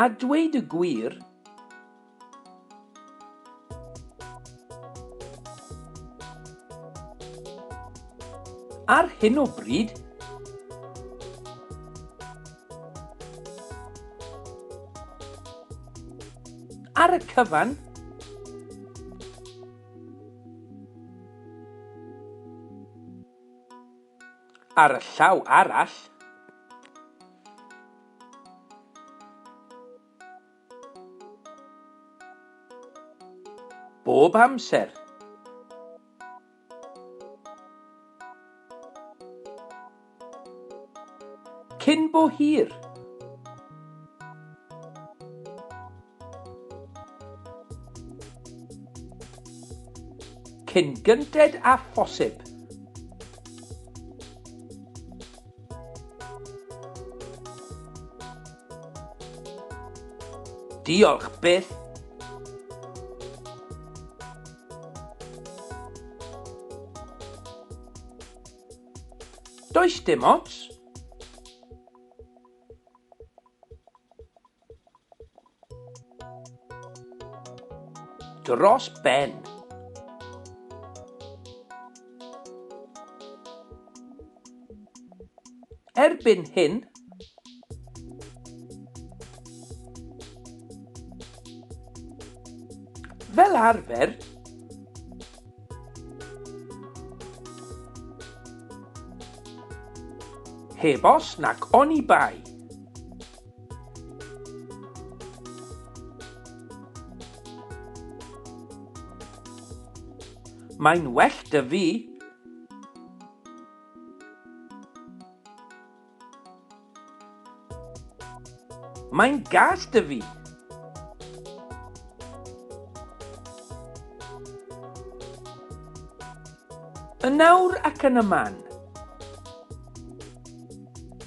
A dweud y gwir, ar hyn o bryd, ar y cyfan, Ar y llaw arall, bob amser, cyn bo hir, Cyn gynted â phosib. Diolch byth. Does dim ots. Dros ben. Erbyn hyn, fel arfer, heb os nac oni bai. Mae'n well da fi. Mae'n gas da fi. Yn nawr ac yn y man.